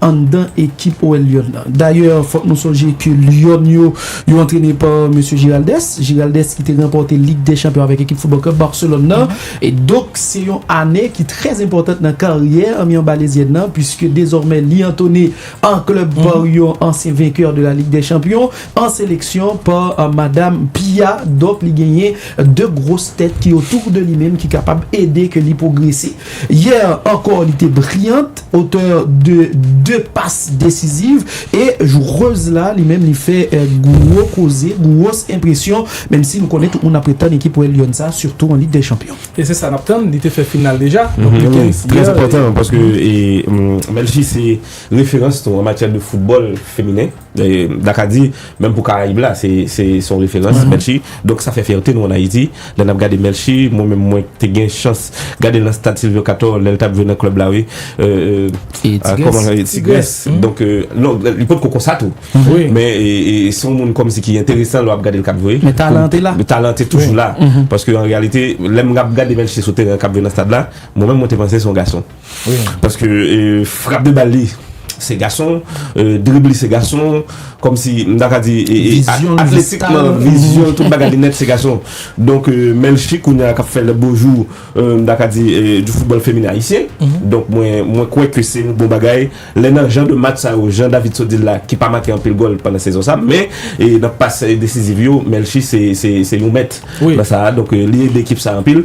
anndan ekip OL Lyòn nan. Dayè fòk nou sonje ke Lyòn yo, yo antrene pa mesye Giraldès, Giraldès ki te ranpòte Lig dè Chanpyon avèk ekip Foutbòl Klèb Barcelòn nan. E donk se yon ane ki trè enpòtant nan karyè anmi anbalezyèn nan puiske dezòmè li antone an klèb pa yon ansyen venkè de la Lig dè Chanpyon an seleksyon pa madam Pia. Donk li genyen 2 gwos tèt ki otour de li menm ki kapab ede ke li pwogrese. Hier ankò li te brillant, auteur de 2 passes decisives e joureuse la li menm li fè gwo koze, gwos enpresyon menm si nou konnen tout moun ap ret tann ekip Royal Lyon sa sitou an Lig dè Chanpyon. E se sa nap tann, li te fè final deja, donk li gen Trè hier. enpòtan paske Melchie se referans nou an matyè de foutbòl feminen. Daka di, menm pou Karayib la, se yon referans, Melchie. Donk sa fè fyète nou an Ayiti. Lè n ap gade Melchie, mwen menm mwen te gen chans gade l nan stad Sylvio Cator lè l t ap jwe nan klèb la wi. Tigres. Donk, non, li potko konsa tou. Men, se yon moun kòmsi ki enteresan lè w ap gade l k ap jwe. Men talan an te la. Talan an te toujou la. Paske an reyalite, lè m ap gade Melchie sou teren an k ap jwe nan stad la, mwen menm mwen te panse se yon gason. Paske frap de bal li se gason, drib li se gason, kòm si m ta ka di atletikman, vizyon l, tout bagay li nèt se gason. Donk menl fi kounye a k ap fè lè bon jou m ta ka di du football feminen ayisyen. Donk mwen kwè ke se yon bon bagay lè nan jan de match sa yo, jan David sot di l la, ki pa make anpil gòl pandan sezon sa, men nan pas desiziv yo menl fi se yon mèt nan sa a. Donk li ede ekip sa a anpil.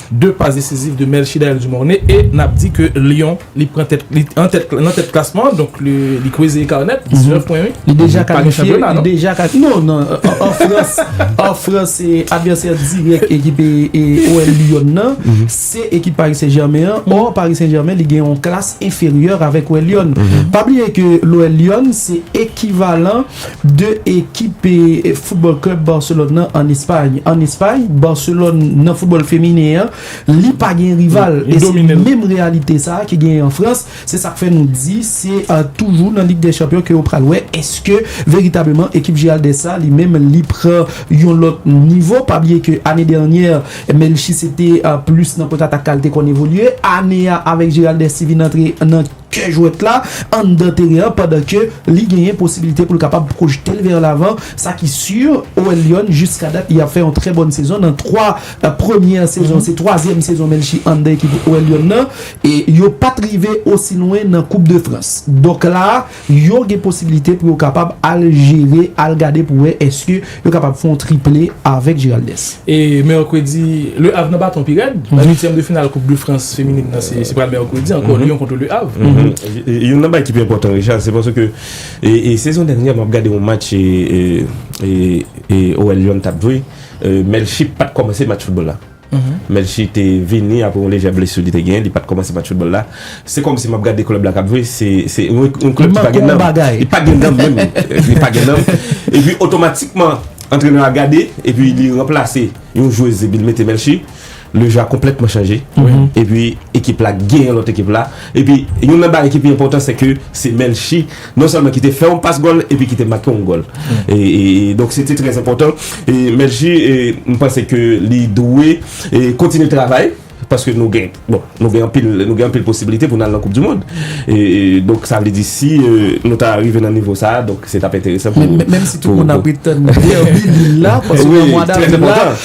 2 pas decisif de Melchidael Dumornay e nap di ke Lyon li pran tèt li an tèt nan tèt klasman an donk li kweze eka nèt 19 pwen wi li deja kalifye li deja kalifye non nan an frans an frans se advèsè dirèk ekip OL Lyon nan se ekip Paris Saint Germain an or Paris Saint Germain li gen yon klas enferyè avèk OL Lyon pa bliye ke l OL Lyon se ekivalan. 2 ekip football club Barcelone nan an Espay an Espay Barcelone nan football feminen an li pa gen rival e se menm reyalite sa ki gen an Frans se sak fè nou di se toujou nan lig dè chanpyon ke ou pral wè eske veritableman ekip Giraldez sa li menm li pran yon lòt nivo pa bliye ke ane dènyè Melchie se te plis nan kontratak kal te konn evolye ane a avèk Giraldez ti vin antre nan. kè jwèt la anndan teren an pandan ke li genyen posibilite pou l kapab pwojte l vè lavan, sa ki si OL Lyon jiska dat li ap fè yon trè bòn sezon nan 3 premyè sezon, se twazyèm sezon Melchie anndan ekip OL Lyon nan e yo pa t rive osi lwen nan koup de Frans donk la a yo gen posibilite pou yo kapab al jere al gade pou wè èske Yo kapab fè yon triple avèk Giraldes. E mèkredi, Le Havre nan baton pi rèd. La uityèm de final koup de Frans feminin nan se pral mèkredi ankò Lyon kontre Le Havre. Youn nan bagay ki pi enpòtan Richard se paske sezon dènyè a m ap gade yon match OL Lyon t ap jwe Melchie pat kòmanse match foutbòl la. Melchie te vini apre yon lejè blesu li te gen, li pat komanse match football la. Se komsi map gade club la kap jwe, se yon club ki pa gen nanm. Li pa gen nanm menm, li pa gen nanm. Epi otomatikman antrenè a gade epi li ranplase yon jwez epi li mete Melchie, le jeu a konpletman chanje epi ekip la genyen lot ekip la. Epi youn nan bagay ki pi enpotan se ke se Melchie. Non sèlman ki te fè yon pas gòl epi ki te make yon gòl. Donk se te trè enpòtan. Melchie m panse ke li dwe kontinye travay paske nou gen bon nou gen anpil nou gen anpil posibilite pou nou al nan koup di mond. Donk sa vle di si nou ta rive nan nivo sa donk se t ap enteresan pou. Menm si tout moun ap ret tann derby Lille la paske nan mwa davril la.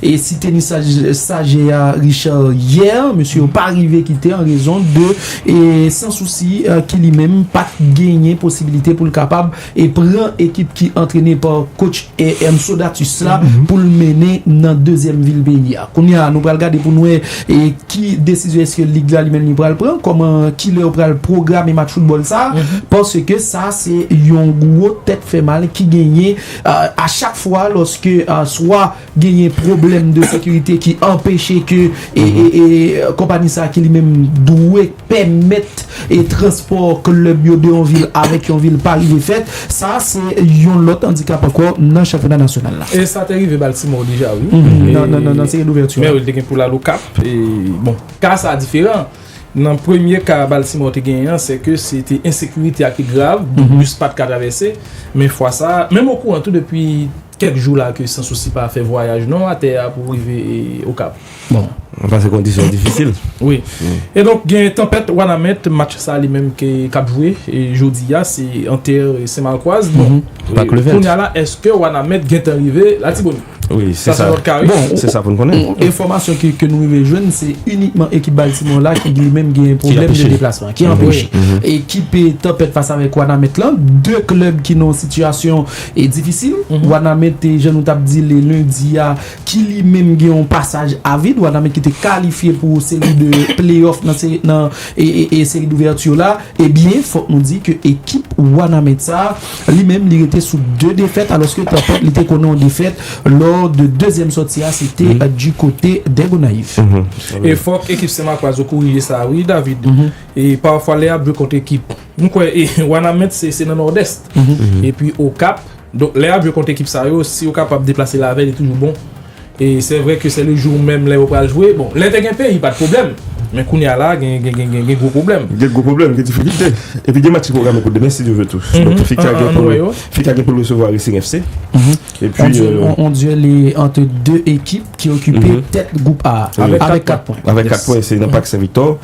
E si teni saje a Richard yè, mesye yo pa rive kite an rezon de San Souci ki li menm pat genyen posibilite pou l kapab pran ekip ki antrene pa coach Ernesto Datus la pou l mennen nan dezyèm vil peyi a. Kounye a nou pral gade pou n wè ki desizyon eske lig la li menm li pral pran, kòman, kilè yo pral pwograme match foutbòl sa a paske sa se yon gwo tèt fè mal ki genyen a chak fwa lòske swa genyen pwoblèm de sekirite ki anpeche ke konpani sa ki li menm dwe pèmèt transpò klèb yo de yon vil avèk yon vil pa rive fèt. Sa a se yon lòt andikap ankò nan chanpyona nasyonal la. E sa te rive Baltimore deja wi. Nan seri douvèti a. Men wi, li te gen pou l al Okap. Bon, ka sa a diferan. Nan premye ka Baltimore te genyen an, se ke se te ensekirite a ki te grav, bis pa t ka travèse. Men fwa sa a, menm okouran tou depi. Kèk jou la ke San Sousi pa fè vwayaj non atè a pou rive Okap. Bon. Pase kondisyon difisil. Wi. E donk gen tanpèt Wanament, match sa li menm ke k ap jwe jodi a se an tè Sen Malkwaz. Bon. Pak Levèt. Kounya la èske Wanament gen tan rive Latibonit? Wi. Se sa. Sa se lòt ka wi. Bon. Se sa pou n konnen. Enfòmasyon ke nou rive jwenn se inikman ekip Baltimore la ki li menm gen pwoblèm de deplasman. Ki anpeche. Ki anpeche. Ekipe tanpèt fas avèk Wanament lan. De klèb ki nan yon sitiyasyon e difisil Wanament te jan nou tap di li lendi a ki li menm gen yon pasaj a vid Wanament ki te kalifye pou seri de playoff nan seri d'ouverture la e byen fòk nou di ke ekip Wanament sa li menm li rete sou 2 defèt alòske tanpèt li te konnen yon defèt lò de dezyèm sòti a se te di kote dè Gonayiv. E fòk ekip Senmakwa zo korije sa wi David e pafwa lè yap jwe kont ekip. M kwè Wanament se nan Nòdès. Epi Okap. Donk lè y ap jwe kont ekip sa yo, si yo kapab deplase lavèy li toujou bon. E sè vrè ke sè le jou menm lè yo pral jwe. Bon, lè te gen peyi pa t pwoblèm. Men kounye a la a gen gwo pwoblèm. Gen gwo pwoblèm, gen difikilte. Epi gen match ki pwograme pou demen si Dye ve tou. Donk FICA gen pou l resevwa Racing FC. On duel entre 2 ekip ki okipe tèt group A avèk 4 pwen. Avèk 4 pwen se nan Pak Sen Viktò.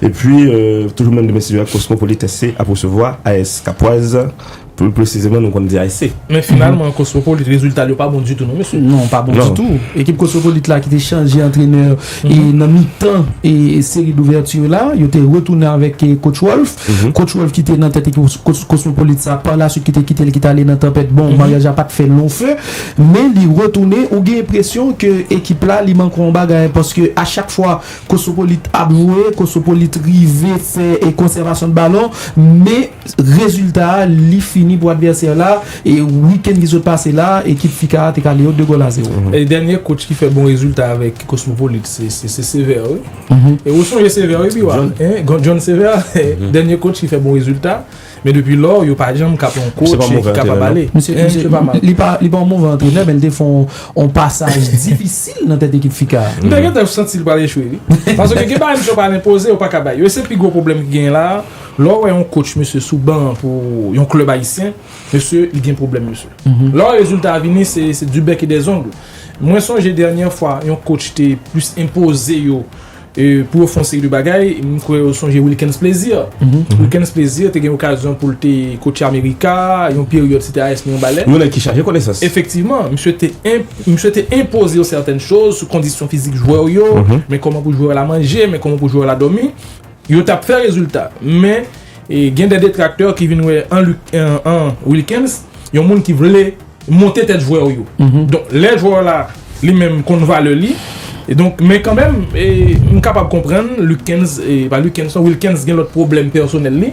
E pi toujou menm demen sijè Kosmopolit SC ap resevwa AS Kapwaz. Plu presizeman nou konn di ASC. Men finalman Kosmopolit reziltal yo pa bon ditou non mesye. Non pa bon ditou. Ekip Kosmopolit la ki te chanje antrenè. E nan mitan seri douvèti yo la, yo te retounen avèk Coach Rolf. Coach Rolf ki te nan tèt ekip Cosmopolite sa, pa la swit ki te kite l, ki t ale nan Tanpèt. Bon, maryaj la pa t fè long feu, men li retounen, ou gen enpresyon ke ekip la li manke yon bagay. Paske a chak fwa Cosmopolite ap jwe, Cosmopolite rive fè konsèvasyon de balon, men rezilta a li fini pou advèsè la. Week-end ki sot pase la, ekip Ficar te kale yo 2 gòl a 0. E dènye coach ki fè bon rezilta avèk Cosmopolite se se Sévère wi. E ou sonje Sévère wi Biwa? John. John Sévère, dènye coach ki fè bon rezilta, men depi lò yo pa janm ka pran yon coach ki kapab ale. Misye pa move antrenè non. Li pa, li pa yon move antrenè men li te fè yon pasaj difisil nan tèt ekip Ficar a. M te gentan santi li pral echwe wi. Paske gen bagay misye pral enpoze yo pa ka bay yo. E se pi gwo pwoblèm ki genyen la a, lè w wè yon coach misye sou ban pou yon club ayisyen, Mesye li gen pwoblèm mesye. Lò rezilta a vini se du bec et des ongles. Mwen sonje dènyè fwa yon coach te plis enpoze yo pou yo fè yon seri de bagay, m kwè yo sonje Wilkens Plaisir. Wilkens Plaisir te gen okazyon pou l te kotche Amerika yon peryòd se te AS Mirebalais. Yon nèg ki chaje konesans. Efektivman, misye te misye te enpoze yo sètèn choz sou kondisyon fizik jwè w yo, men kòman pou jwè w la manje, men kòman pou jwè w la dòmi. Yo t ap fè rezilta. Men, gen de detraktè ki vin wè an Wilkens yon moun ki vle monte tèt jwè w yo. Donk, lè jwè w la li menm konn valè li, donk, men kanmenm, m kapab konprann Lukens, pa Lukens non, Wilkens gen lòt pwoblèm pèsonèl li.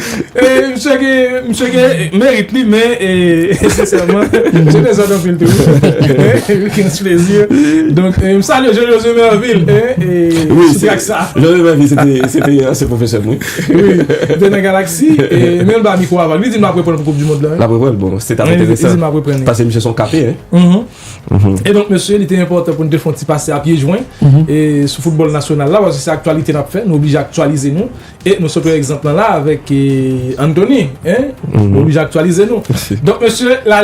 Misye gen merit li men sensèman misye dezòd anpil tou wi King Splezi donk m salye Jean Josue Mervil sou trak sa Jean Josue Mervil se te se te ansyen pwofesè m wi wi li te nan Galaxy men m ba mikwo a vag li di m l ap reprann pou koup di mond lan l ap reprann bon se t ap enteresan pase misye se yon kape e donk mesye li te enpòtan pou n te fon ti pase a pye jwen sou foutbòl nasyonal la paske se aktyalite n ap fè nou oblije aktyalize nou. E nou sot wè egzanp lan la avèk Anthony hein nou oblije aktyalize nou donk mesye la.